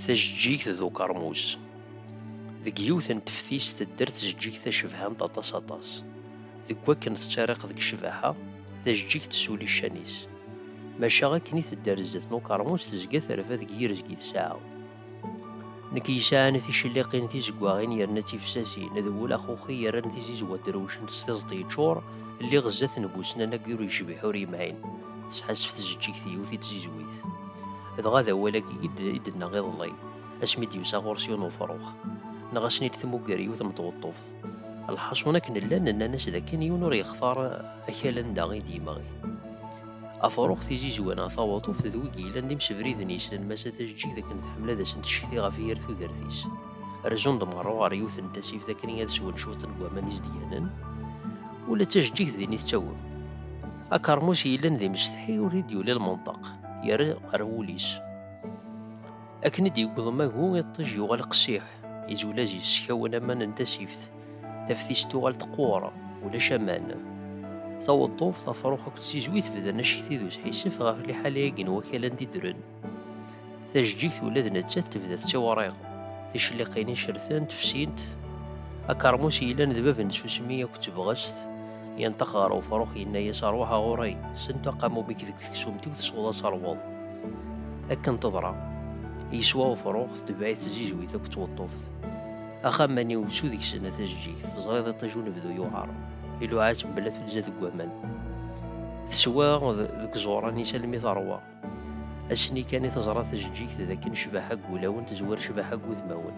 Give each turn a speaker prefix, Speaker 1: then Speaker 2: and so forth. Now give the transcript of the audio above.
Speaker 1: Tajeǧǧigt d ukermus. Deg yiwet n teftist tedder tzeǧǧigt tacebhant aṭas aṭas. Deg wakken tettariq deg ccbaḥa, tajeǧǧigt tessuli ccan-is. Maca akken i tedder zdat n ukermus tezga terfa deg yirezg i tesɛa. Nekk yesɛan ticelliqin tizeggaɣin yerna d tifsasin, d wul axuxi yerran tizizwa drewcent s tiẓeṭ yeččur, lliɣ zdat n busnan ayyur yecbeḥ ur yemɛin, tesḥassef tzeǧǧigt yiwet i tzizwit. Dɣa d awal-agi i d-tenna iḍelli, asmi i d-yusa ɣur-s yiwen ufrux, neɣ ad asen-id tmugger yiwet n tweṭṭuft. Lḥaṣun akken llan nnan-as dakken yiwen ur yextar akal anda i d-yemɣi. Afrux tizizwa-nneɣ tawaṭuft d wigi yellan d imsebriden yeslan massa tajeǧǧigt akken tḥemmel ad asen-tcekti ɣef yir tudert-is. Rezzun-d merra ɣer yiwet n tasift akken ad swen cwiṭ n waman izedganen. Ula d tajeǧǧigt din i tettawem. Akermus yellan d imsetḥi ur d-yuli lmenṭeq, yerra ar wul-is. Akken i d-yewweḍ umagu, iṭij yuɣal qessiḥ, izwel azis, skawen aman n tasift. Taftist tuɣal teqqur, ulac aman. Taweḍḍuft, afrux akked tizwit bdan acekti d usḥissef ɣef liḥala-agi n wakal anda i ddren. Tajeǧǧigt ula d nettat tebda tettiwriɣ. Ticliqin icertent, fsint. Akermus yellan d bab n tsusmi akked tebɣest, yenṭeq ɣer ufrux yenna-yas rwaḥ a ɣur-i, sent aqamum-ik deg teksumt-iw tesweḍ ad terwuḍ. Akken teḍra. Yeswa ufrux, tetbeɛ-it tzizwit akked tweṭṭuft. Axammani usu deg-sen a tajjigt, teẓriḍ iṭij unebdu yuɛer, iluɛa tembla tunza deg waman. Teswa deg iẓuran-is almi teṛwa. Ass-nni kan i teẓra tajjigt d akken ccbaḥa deg wulawen tezwar ccbaḥa deg wudmawen.